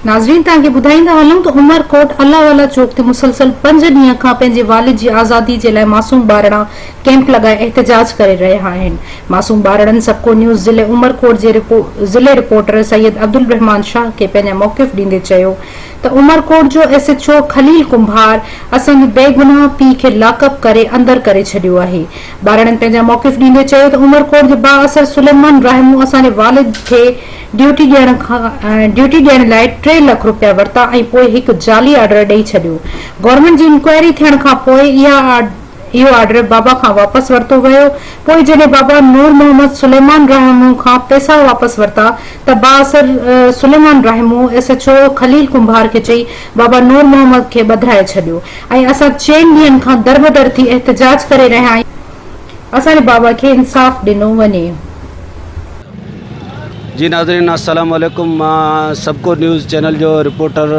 ناظرين توهان کي ٻڌائيندا هلون ته عمر ڪوٽ الله والا چوڪ تي مسلسل پنج ڏينهن کان پنهنجي والد جي آزادي جي لاء معصوم ٻارڙا ڪئمپ لڳائي احتجاج ڪري رهيا آهن معصوم ٻارڙن سبڪو نيوز ضلعي عمر ڪوٽ جي ضلعي رپورٽر سيد عبدالرحمان شاهه کي پنهنجا موقف ڏيندي چيو ته عمرڪوٽ جو S H O Khalil Kumbhar اسان جي بيگناهه پيء کي لاڪ اپ ڪري اندر ڪري ڇڏيو آهي. ٻارڙن پنهنجا موقف ڏيندي چيو ته عمرڪوٽ جي بااثر سليمان رحمو اسان جي والد کي ڊيوٽي ڏيڻ ڊيوٽي ڏيڻ لاء ٽي لک رپيا ورتا ۽ پوء هڪ جعلي آرڊر ڏئي ڇڏيو. گورنمينٽ جي انڪوائري ٿيڻ کانپوء اها اهو آرڊر بابا کان واپس ورتو ويو. پوء جڏهن بابا نور محمد سليمان رحمون کان پئسا واپس ورتا ته بااثر Suleman Rahmoon S H O Khalil Kumbhar کي چئي بابا نور محمد کي ٻڌرائي ڇڏيو ۽ اسان چئن ڏينهن کان دربدر ٿي احتجاج ڪري رهيا آهيون. اسان جي بابا کي انصاف ڏنو وڃي. جي ناظرين السلام عليڪم مان سبڪو نيوز چينل جو رپورٽر.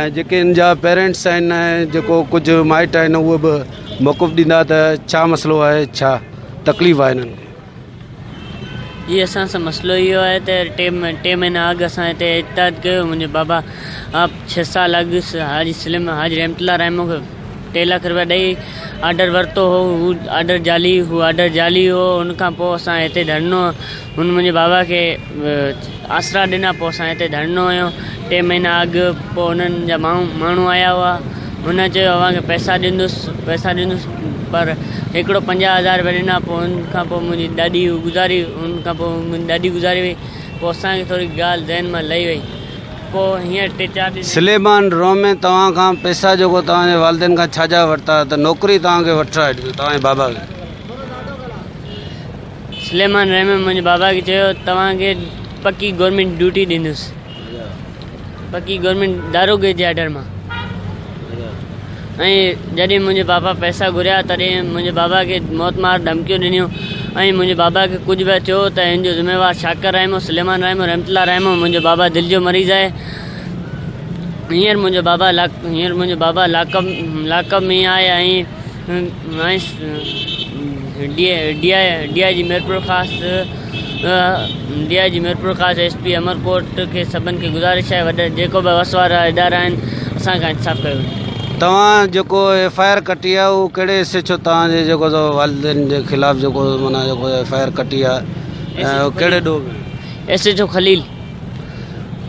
۽ جيڪي ان جا پيرينٽس آهن ۽ جيڪو ڪجهه مائٽ آهن اهي به موقف ڏيندا ته ڇا مسئلو آهي ڇا تڪليف آهي انهن کي. جي اسان سان مسئلو اهو آهي ته ٽي ٽي مهينا اڳ اسان هتي احتجاج ڪيو منهنجي بابا آپ ڇهه سال اڳ حاجي سليم حاجي رحمت الله رحمو کي ٽي لک روپيا ڏئي آرڊر ورتو هو هو آرڊر جعلي هو آرڊر جعلي هو ان کان پوء اسان هتي ڌرنو هن منهنجي بابا کي آسرا ڏنا پوء اسان هتي ڌرڻو هنيو ٽي مهينا اڳ پوء هنن جا ماڻهو آيا هئا هن چيو اوهان کي پئسا ڏيندس پئسا ڏيندس پر هڪڙو پنجاهه هزار رپيا ڏنا پوء هن کان پوء منهنجي ڏاڏي گذاري هن کان پوء منهنجي ڏاڏي گذاري وئي پوء اسان کي ٿوري ڳالهه ذهن مان لهي وئي پوء هينئر ٽي چار ڏينهن سليمان رومي توهان کان پئسا جيڪو توهان جي والدين کان ڇاجا ورتا ته نوڪري توهان کي وٺرائي ڏنو توهان جي بابا کي. سليمان رحمان منهنجي بابا کي چيو توهان کي پڪي گورنمينٽ ڊيوٽي ڏيندس پڪي گورنمينٽ داروغي جي آرڊر مان ۽ جڏهن منهنجي بابا پئسا گهريا تڏهن منهنجي بابا کي موت مار ڌمڪيون ڏنيون ۽ منهنجي بابا کي ڪجهه به ٿيو ته هن جو ذميوار شاڪر رحمو سليمان رحمو رحمت الله رحمو منهنجو بابا دل جو مريض آهي هينئر منهنجو بابا هينئر منهنجو بابا لاڪ لاڪ ۾ آهي ۽ minus D I G Mirpurkhas S P Umerkot کي سڀن کي گذارش آهي وڏا جيڪو به وس وارا ادارا آهن اسان کان انصاف ڪيو وڃي. توهان جيڪو ايف آء آر ڪٽي آ اهو ڪهڙي ايس ايڇ او توهان جي جيڪو سو والدين جي خلاف جيڪو معنيٰ جيڪو ايف آء آر ڪٽي آ اهو ڪهڙي ڏوهه ۾. ايس ايڇ او خليل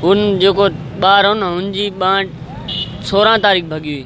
هن جيڪو ٻار هو نه هن جي ٻانهن سورهن تاريخ ڀڳي هئي.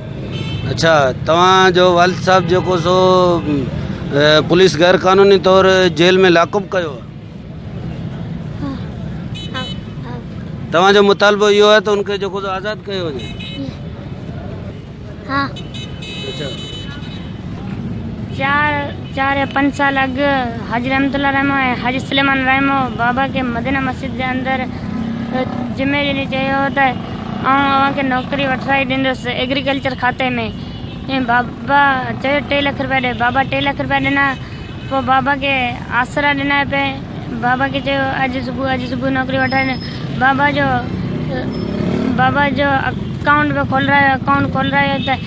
اڇا توهان جو والد صاحب جيڪو سو پوليس غير قانوني طور جيل ۾ لاڪپ ڪيو توهان جو مطالبو اهو آهي ته ان کي جيڪو آزاد ڪيو وڃي اڇا چار يا پنج سال اڳ حاجي رحمت الله رحمو ۽ حاجي سليمان رحمو بابا کي مدينه مسجد جي اندر جمعي ڏينهن چيو هو ته آئون اوهان کي نوڪري وٺرائي ڏيندس ايگريڪلچر کاتي ۾، بابا چيو ٽي لک رپيا ڏي، بابا ٽي لک رپيا ڏنا، پوء بابا کي آسرا ڏنا پئي، بابا کي چيو اڄ صبح اڄ صبح نوڪري وٺرائي ڏي، بابا جو بابا جو اڪائونٽ به کولرايو، اڪائونٽ کولرايو ته.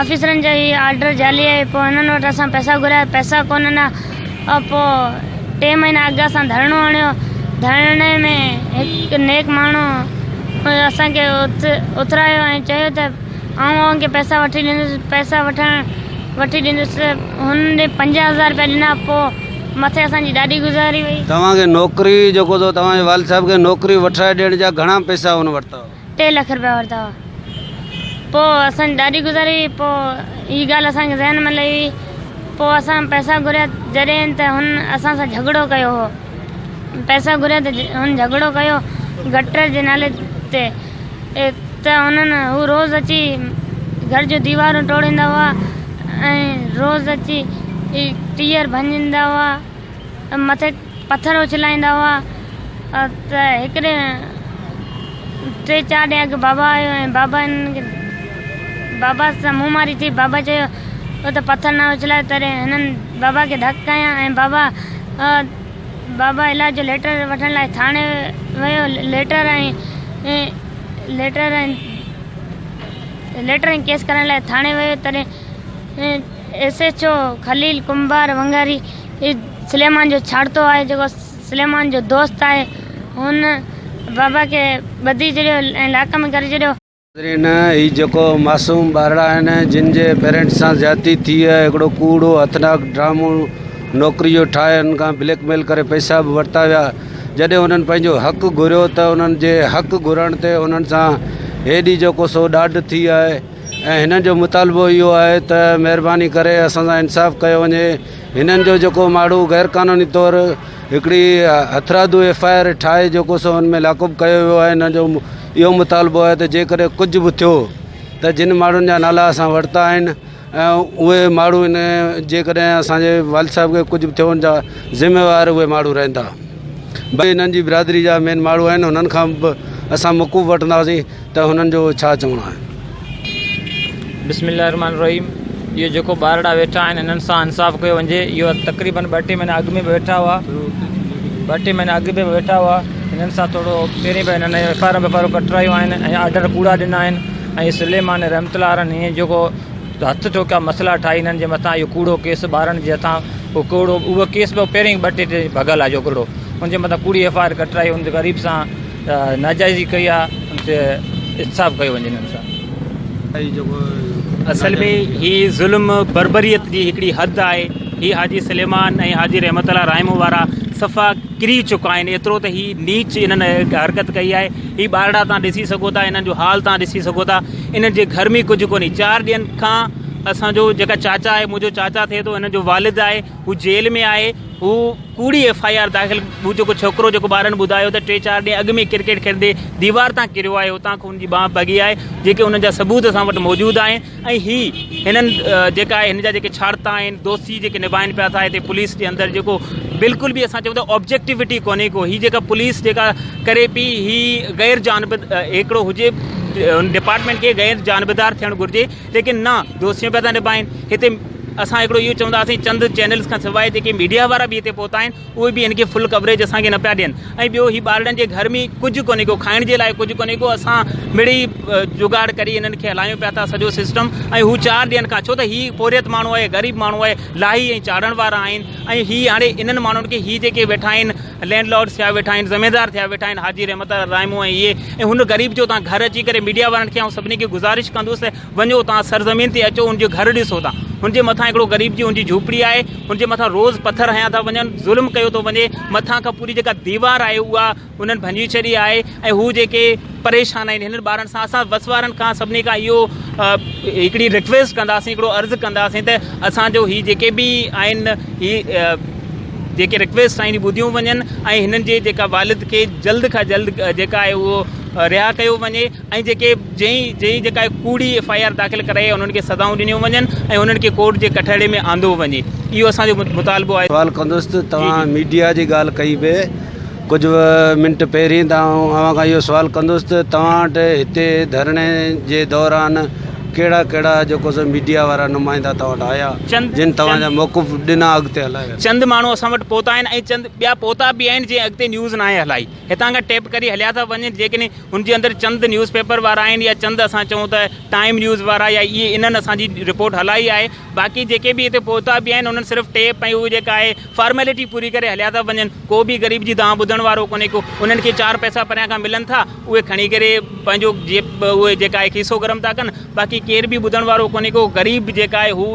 آفيسرن جا هي آرڊر جعلي آهي پوء هنن وٽ اسان پئسا گهريا پئسا ڪونهن ها پوء ٽي مهينا اڳ اسان ڌرڻو هڻيو ڌرڻي ۾ هڪ نيڪ ماڻهو اسان کي اٿرايو ۽ چيو ته آئون اوهان کي پئسا وٺي ڏيندس پئسا وٺڻ وٺي ڏيندس هن ڏي پنجاهه هزار رپيا ڏنا پوء مٿي اسان جي ڏاڍي گذاري وئي. توهان کي نوڪري جيڪو ٿو توهان جي والد صاحب کي نوڪري وٺرائي ڏيڻ جا گهڻا پئسا هن ورتا هئا. ٽي لک رپيا ورتا هئا پوء اسان جي ڏاڍي گذاري هئي پوء هي ڳالهه اسان کي ذهن ۾ لهي هئي پوء اسان پئسا گهريا جڏهن ته هن اسان سان جهڳڙو ڪيو هو پئسا گهريا ته هن جهڳڙو ڪيو گٽر جي نالي تي ته انهن هو روز اچي گهر جو ديوارون ٽوڙيندا هئا ۽ روز اچي ٽيئر ڀڃيندا هئا مٿي پٿر اڇلائيندا هئا ته هڪ ڏينهن ٽي چار ڏينهن اڳ بابا آيو ۽ بابا هنن کي بابا سان منهن ماري ٿي بابا چيو تو ته پٿر نه اڇلايو تڏهن هنن بابا کي ڌڪ ڪيا ۽ بابا بابا علاج جو ليٽر وٺڻ لاء ٿاڻي ويو ليٽر ۽ ليٽر ۽ ليٽر ۽ ڪيس ڪرائڻ لاء ٿاڻي ويو تڏهن S H O Khalil Kumbhar ونگاري هي سليمان جو ڇاڙتو آهي جيڪو سليمان جو دوست آهي هن بابا کي ٻڌي ڇڏيو ۽ لاڪ ۾ ڪري ڇڏيو. ناظرين هي جيڪو معصوم ٻارڙا آهن جن جي پيرنٽس سان زيادتي ٿي هي هڪڙو ڪوڙو هٿناڪ ڊرامو نوڪري جو ٺاهي هنن کان بليڪ ميل ڪري پئسا به ورتا ويا جڏهن هنن پنهنجو حق گهريو ته هنن جي حق گهرڻ تي هنن سان هيڏي جيڪو سو ڏاڍ ٿي آهي. ۽ هنن جو مطالبو اهو آهي ته مهرباني ڪري اسان سان انصاف ڪيو وڃي هنن جو جيڪو ماڻهو غير قانوني طور هڪڙي هٿرادو ايف آء آر ٺاهي جيڪو سو ان ۾ لاڪب ڪيو ويو آهي هنن جو اهو مطالبو آهي ته جيڪڏهن ڪجهه به ٿيو ته جن ماڻهن جا نالا اسان ورتا آهن اهي ماڻهو ان جيڪڏهن اسان جي والد صاحب کي ڪجهه به ٿيو ان جا ذميوار اهي ماڻهو رهندا بي هنن جي برادري جا مين ماڻهو آهن هنن کان به اسان موقف وٺنداسين ته هنن جو ڇا چوڻ آهي؟ بسم الله الرحمٰن الرحيم اهي جيڪو ٻارڙا ويٺا آهن انهن سان انصاف ڪيو وڃجي اهو تقريبن ٻه ٽي مهينا اڳ ۾ به ويٺا هئا ٻه ٽي مهينا اڳ به ويٺا هئا انهن سان ٿورو پهرين به انهن F I R ويف I R ڪٽرايون آهن ۽ آرڊر ڪوڙا ڏنا آهن ۽ سليمان رحمت الله عالن هيئن جيڪو هٿ ٺوڪيا مسئلا ٺاهي هنن جي مٿان اهو ڪوڙو ڪيس ٻارن جي هٿان اهو ڪوڙو اهو ڪيس به پهرين ٻه ٽي ڀڳل آهي جوڳڙو ان جي مٿان ڪوڙي ايف آء آر ڪٽرائي ان غريب سان ناجائزي ڪئي آ ان تي احتساب ڪيو وڃي انهن سان. اصل ۾ هي ظلم بربريت جي هڪڙي حد آهي هي حاجي سليمان ۽ حاجي رحمت الله رائمو وارا صفا ڪري چڪا آهن ايترو ته هي نيچ انهن حرڪت ڪئي آهي هي ٻارڙا تان ڏسي سگهو ٿا انهن جو حال تان ڏسي سگهو ٿا انهن جي گهر ۾ ڪجهه ڪونهي چار ڏينهن کان اسان جو جيڪا چاچا آهي منهنجو چاچا ٿئي ٿو انهن جو والد آهي هو جيل ۾ آهي هو ڪوڙي ايف آء آر داخل هو جيڪو ڇوڪرو جيڪو ٻارن ٻڌايو ته ٽي چار ڏينهن اڳ ۾ کرڪيٽ کيڏندي ديوار تان ڪريو آهي اتان کان هن جي ٻانهن ڀڳي آهي جيڪي ان جا ثبوت اسان وٽ موجود آهن ۽ هي هنن جيڪا آهي هن جا جيڪي ڇاڙتا آهن دوستي جيڪي نباهين پيا ٿا هتي پوليس جي اندر جيڪو بلڪل به اسان چئون ٿا آبجيڪٽيوٽي ڪونهي ڪو هي جيڪا پوليس جيڪا ڪري پي هي غير جانب هڪڙو هجي ڊپارٽمينٽ کي غير جانبدار ٿيڻ گهرجي ليڪن نه دوستيون پيا ٿا نڀائين هتي اسان هڪڙو اهو چونداسين چند چينلز کان سواء جيڪي ميڊيا وارا به هتي پهتا آهن اهي به هن کي فل ڪوريج اسان کي نه پيا ڏين ۽ ٻيو هي ٻارڙن جي گهر ۾ ڪجهه ڪونهي ڪو کائڻ جي لاء ڪجهه ڪونهي ڪو اسان مڙئي جگاڙ ڪري هنن کي هلايون پيا ٿا سڄو سسٽم ۽ هو چار ڏينهن کان ڇو ته هي پورهيت ماڻهو آهي غريب ماڻهو آهي لاهي ۽ چاڙهڻ وارا آهن ۽ هي هاڻي انهن ماڻهن کي هي جيڪي ويٺا آهن لينڊ لارڊ ٿيا ويٺا آهن زميندار ٿيا ويٺا آهن حاجي رحمت الله رائمو ۽ اهي ۽ هن غريب جو تان گهر اچي ڪري ميڊيا وارن کي آئون سڀني کي گذارش ڪندس ته وڃو تان سرزمين تي اچو ان جو گهر ڏسو تان هن جي مٿان هڪڙو غريب جي هن جي جهوپڙي آهي هن جي مٿان روز پٿر هنيا ٿا وڃن ظلم ڪيو ٿو وڃي مٿان کان پوري جيڪا ديوار آهي اها انهن ڀڃي ڇڏي آهي ۽ هو جيڪي پريشان آهن هنن ٻارن سان اسان بس وارن کان سڀني کان اهو هڪڙي رڪويسٽ ڪنداسين هڪڙو عرض ڪنداسين ته اسان جو هي جيڪي به آهن هي جيڪي رڪويسٽ آهن ٻڌيون وڃن ۽ هنن جي جيڪا والد کي جلد کان جلد جيڪا آهي اهو رها ڪيو وڃي ۽ جيڪي جنهن جنهن جيڪا ڪوڙي ايف آء آر داخل ڪرائي آهي انهن کي سزائون ڏنيون وڃن ۽ انهن کي ڪورٽ جي ڪٽهڙي ۾ آندو وڃي اهو اسان جو مطالبو آهي سوال ڪندس ته توهان ميڊيا جي ڳالهه ڪئي به ڪجهه منٽ پهرين ته آئون اوهان کان اهو سوال ڪندس ته توهان وٽ هتي ڌرڻي جي دوران ڪهڙا ڪهڙا جيڪو سو ميڊيا وارا نمائندا توهان وٽ آيا چند جن توهان جا چند موقف ڏنا اڳتي هلائي ويا چند ماڻهو اسان وٽ پهتا آهن ۽ چند ٻيا پهتا به آهن جنهن اڳتي نيوز ناهي هلائي هتان کان ٽيپ ڪري هليا ٿا وڃن جيڪڏهن هن جي اندر چند نيوز پيپر وارا آهن يا چند اسان چئون ته ٽائيم نيوز وارا يا اهي انهن اسان جي رپورٽ هلائي آهي باقي جيڪي به هتي پهتا به آهن انهن صرف ٽيپ ۽ اهو جيڪا آهي فارميلٽي پوري ڪري هليا ٿا وڃن، ڪو به غريب جي دانهن ٻڌڻ وارو ڪونهي ڪو، انهن کي چار پئسا پريان کان ملن ٿا، اهي کڻي ڪري پنهنجو اهي جيڪا آهي کيسو گرم ٿا ڪن، باقي ڪير به ٻڌڻ وارو ڪونهي ڪو، غريب جيڪا آهي هو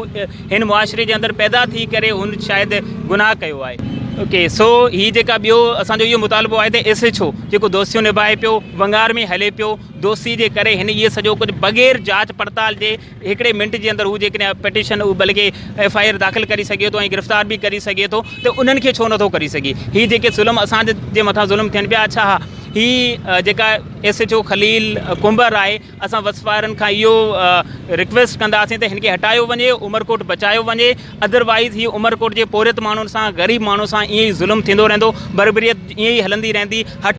هن معاشري جي اندر پيدا ٿي ڪري هن شايد گناهه ڪيو آهي. اوڪي سو هي جيڪا ٻيو اسان جو اهو مطالبو آهي ته ايس ايڇ او جيڪو دوستيون نڀائي پيو ونگار ۾ هلي پيو، دوستي جي ڪري هن اهي سڄو ڪجهه بغير جاچ پڙتال جي، هڪڙي منٽ جي اندر هو جيڪڏهن پٽيشن بلڪه ايف آء آر داخل ڪري سگهي ٿو ۽ گرفتار به ڪري سگهي ٿو ته انهن کي ڇو نٿو ڪري سگهي هي جيڪي ظلم اسان جي مٿان ظلم ٿين پيا اڇا ها هي جيڪا S H O Khalil Kumbhar آهي اسان وس وارن کان اهو رڪويسٽ ڪنداسين ته هن کي هٽايو وڃي عمرڪوٽ بچايو وڃي ادروائز هي عمرڪوٽ جي پورهيت ماڻهن سان غريب ماڻهن سان ائين ئي ظلم ٿيندو رهندو بربريت ائين ئي هلندي رهندي